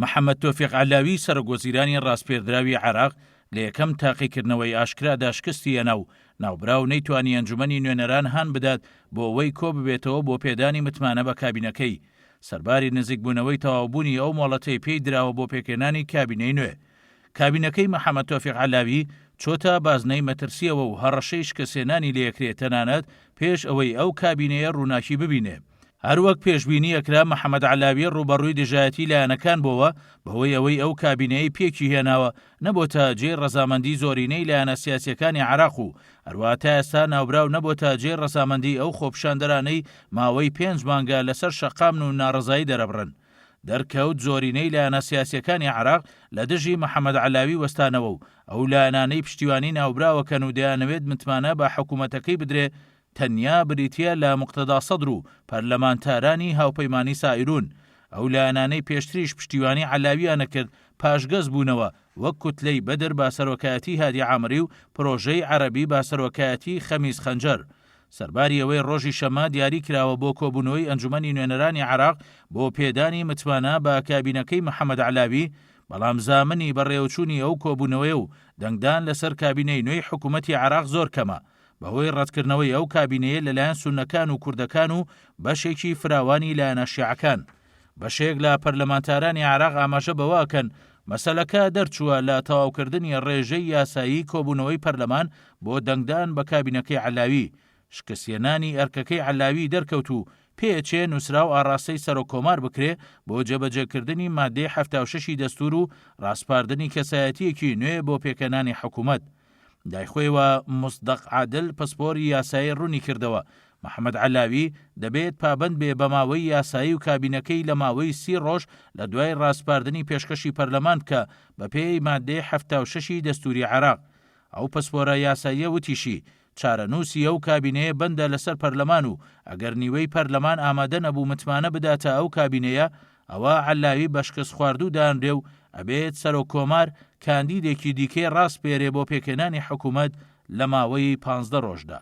محەمەد تۆفیق عەلاوی سەرۆک وەزیرانی ڕاسپێردراوی عێراق لە یەکەم تاقیکردنەوەی ئاشکرادا شکستی هێنا و ناوبراو نەیتوانی ئەنجومەنی نوێنەران هان بدات بۆ ئەوەی کۆببێتەوە بۆ پێدانی متمانە بە کابینەکەی سەرباری نزیکبوونەوەی تەواوبوونی ئەو مۆڵەتەی پێی دراوە بۆ پێکهێنانی کابینەی نوێ. کابینەکەی محەمەد تۆفیق عەلاوی چۆتە بازنەی مەترسییەوە و هەڕەشەی شکستهێنانی لێکرێ تەنانەت پێش ئەوەی ئەو کابینەیە ڕووناکی ببینێ. هەروەک پێشبینی ئەکرا محەمەد عەلاوی ڕووبەڕووی دژایەتی لایەنەکان بۆوە بەهۆی ئەوەی ئەو کابینەیەی پێکی هێناوە نەبۆتە جێی ڕەزامەندی زۆرینەی لایەنە سیاسیەکانی عێراق و هەروەها تا ئێستا ناوبراو نەبۆتە جێی ڕەزامەندی ئەو خۆپیشاندەرانەی ماوەی پێنج مانگە لەسەر شەقامن و ناڕەزایی دەرەبڕن. دەرکەوت زۆرینەی لایەنە سیاسیەکانی عێراق لە دژی محەمەد عەلاوی وەستانەوە و ئەو لایەنانەی پشتیوانی ناوبراوەکەن و دەیانەوێت متمانە بە حکومەتەکەی بدرێ تەنیا بریتییە لە موقتەدا سەدر و پەرلەمانتارانی هاوپەیمانی سائیروون، ئەو لایەنانەی پێشتریش پشتیوانی عەلاوییان ئەکرد پاشگەز بوونەوە، وەک کوتلەی بەدر بە سەرۆکایەتی هادی عامری و پرۆژەی عەرەبی بە سەرۆکایەتی خەمیس خەنجەر. سەرباری ئەوەی ڕۆژی شەممە دیاری کراوە بۆ کۆبوونەوەی ئەنجومەنی نوێنەرانی عێراق بۆ پێدانی متمانە بە کابینەکەی محەمەد عەلاوی، بەڵام زامنی بەڕێوەچوونی ئەو کۆبوونەوەیە و دەنگدان لەسەر کابینەی نوێی حکوومەتی عێراق زۆر کەمە. بەهۆی ڕەتکردنەوەی ئەو کابینەیە لەلایەن سوننەکان و کوردەکان و بەشێکی فراوانی لایەنە شیعەکان، بەشێک لە پەرلەمانتارانی عێراق ئاماژە بەوە ئەکەن، مەسەلەکە دەرچووە لە تەواوکردنی ڕێژەی یاسایی کۆبوونەوەی پەرلەمان بۆ دەنگدان بە کابینەکەی عەلاوی، شکستهێنانی ئەرکەکەی عەلاوی دەرکەوت و پێچێ نووسرا و ئاڕاستەی سەرۆککۆمار بکرێ بۆ جێبەجێکردنی ماددەی حەفتا و شەشی دەستوور و ڕاسپاردنی کەسایەتییەکی نوێ بۆ پێکهێنانی حکوومەت. لای خۆیەوە موسدەق عادل پسپۆری یاسایی ڕوونیکردەوە، محەمەد عەلاوی دەبێت پابەند بێ بە ماوەی یاسایی و کابینەکەی لە ماوەی سی ڕۆژ لە دوای ڕاسپاردنی پێشکەشی پەرلەمان بکا بەپێی ماددەی حەفتا و شەشی دەستووری عێراق. ئەو پسپۆرە یاساییە وتیشی، چارەنووسی ئەو کابینەیە بەندە لەسەر پەرلەمان و ئەگەر نیوەی پەرلەمان ئامادە نەبوو متمانە بداتە ئەو کابینەیە، ئەوا عەللاوی بەشکستخواردوو دانرێ و ئەبێت سەرۆک کۆمار کاندیدێکی دیکەی ڕاسپێرێ بۆ پێکهێنانی حکوومەت لە ماوەی پانزدە ڕۆژدا.